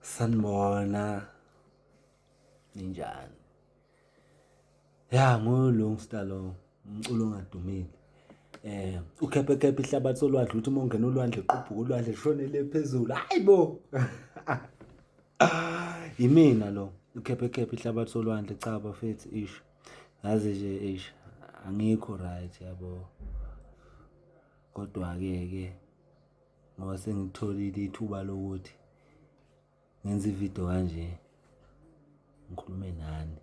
Sanibona. Ninjani? Ya nguLungstar lo umculo ongadumile. Eh ukhephe khephe ihlabathi solwandle uthi uma ungena olwandle qubhuka olwandle shonele phezulu. Hayibo. Yimina lo ukhephe khephe ihlabathi solwandle cha bafethu ish. Ngazi nje ish angikho right yabo. Kodwa ke ke ngoba sengitholile ithuba lokuthi ngenze ividiyo kanje ngikhulume nani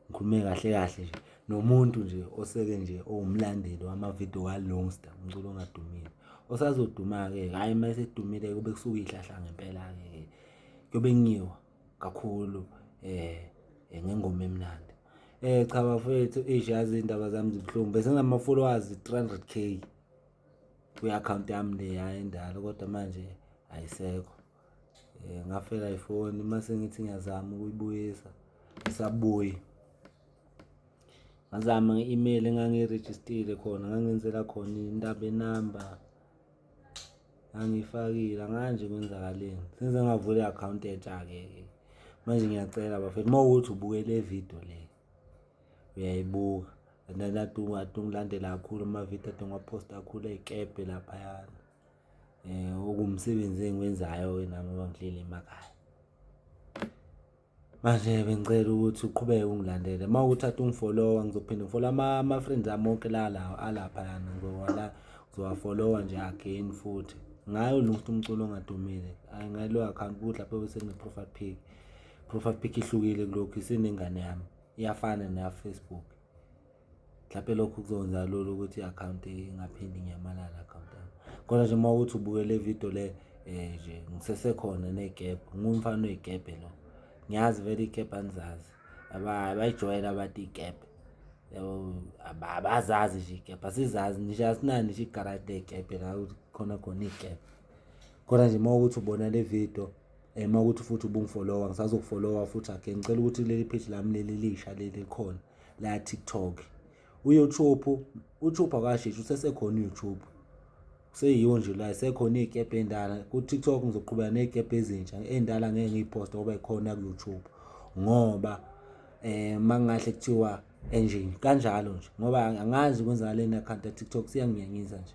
ngikhulume kahle kahle nje nomuntu nje oseke nje owumlandeli wamavidiyo kalungsta umculo ongadumile osazoduma-ke hhayi uma esedumile kube kusuke ihlahla ngempela-ke kuyobe kungiwa kakhulu um ngengoma emnandi um cha bafowethu eish yazi iy'ndaba zami zibuhlungu bese nginama-followers three hundred k kwi-akhawunti yami leya endala kodwa manje ayisekho um ngafela ifoni uma sengithi ngiyazama ukuyibuyisa isabuyi ngazama nge-email engangiyirejistile khona ngangenzela khona indaba enamba angifakile anganje kwenzakaleni senze ngavula i-akhawunti entsha-ke manje ngiyacela bafethu uma ukuthi ubukele video le uyayibuka and then adungu adungulandela kakhulu amavidiyo adunguwaphosta kakhulu ey'kebhe laphayana um eh, okumsebenzi engiwenzayo-ke nami uba ngihleli emakhaya manje bengicela ukuthi uqhubeke ungilandele uma ukuthi ade ungifolowa ngizophinde ngifolo ama-friends ami onke lalawo alaphayana ngizowala ngizowafolowa nje again futhi ngayo lunguthi umculo ongadumile ngayiloyo akhawunti ukuthi lapho bese ngine-profile pic profile pic ihlukile kulokhu isenengane yami iyafana neyaFacebook mhlawumpe lokhu kuzokwenza lula ukuthi i-akhawunti ingaphindi ngiyamalala akhawunti yami kodwa nje uma ukuthi ubukele ividiyo le um nje ngisesekhona ney'kebhe ngumfana oy'kebhe lo ngiyazi vele iy'kebhe angizazi abayijwayele abantu iy'kebhe yabo abazazi nje iy'kebhe asizazi nje asinani nje igaradi ley'kebhe la khona khona iy'kebhe kodwa nje uma ukuthi ubona le vidiyo um uma ukuthi futhi ubungifolowa ngisazokufolowa futhi again ngicela ukuthi leli page lami leli lisha leli khona la tiktok uyoutube uyoutube akashishi usesekhona uyoutube seyiwo nje la sekhona iy'kebhe ey'ndala ku-tiktok ngizoqhubeka ney'kebhe ezintsha ey'ndala ngeke ngiyiphoste ngoba ikhona ku-youtube ngoba um uma kungahle kuthiwa enjini kanjalo nje ngoba angazi kwenzakaleni i-akhawunti ya-tiktok siyanginyanyisa nje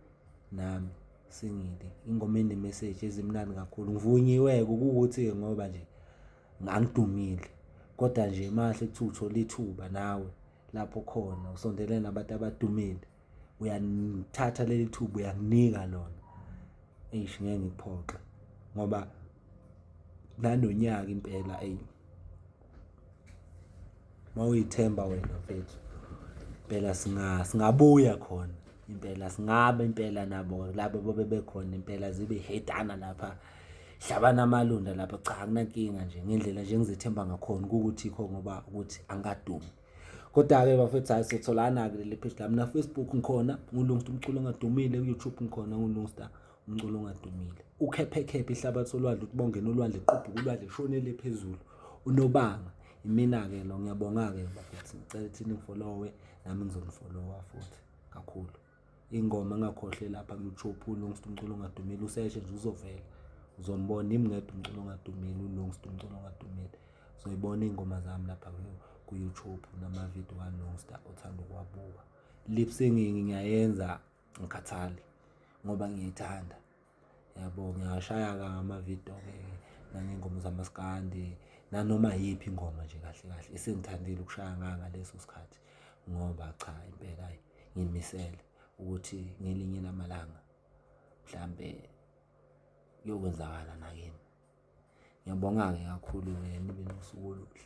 nami singile ingoma enemeseji ezimnandi kakhulu ngivunyiwe-ke kuwukuthi-ke ngoba nje ngangidumile kodwa nje mahle kuthiwa uthole ithuba nawe lapho khona usondelene nabantu abadumile uyalithatha leli thuba uyakunika lona eish ngeke ngikuphoxe ngoba nanonyaka impela eyi mawuyithemba wena mfethu impela singa singabuya khona impela singabe impela nabo labo bobe bekhona impela zibe hedana lapha hlabana amalunda lapha cha akunankinga nje ngendlela nje ngizethemba ngakhona ukuthi kho ngoba ukuthi angadumi kodwa-ke bafethu hayi sotholana-ke leli page lami na-facebook ngikhona ngulungsta umculo ongadumile ku-youtube ngikhona ngulungsta umculo ongadumile ukhephekhephe ihlabathi olwandle ukuthi bongena olwandle qubhuka ulwandle shonele phezulu unobanga imina-ke lo ngiyabonga-ke bakithi ngicela ukuthi ningifolowe nami ngizonifolowa futhi kakhulu ingoma engakhohle lapha ku-youtube ulungst umculo ongadumile useshe nje uzovela uzombona imngedwa umculo ongadumile ulungst umculo ongadumile uzoyibona iy'ngoma zami lapha ku-youtube namavidiyo kalungsta othanda ukuwabuka lip singing ngiyayenza ngikhathale ngoba ngiyayithanda. Yabo, ngingashaya-ke amavidiyo-ke nangey'ngoma zamaskandi, nanoma iyiphi ingoma nje kahle kahle esengithandile ukushaya ngayo ngaleso sikhathi ngoba cha impela hhayi ngiy'misele ukuthi ngelinye lamalanga mhlawumbe kuyokwenzakala nakimi. Ngiyabonga-ke kakhulu-ke nibe nosuku oluhle.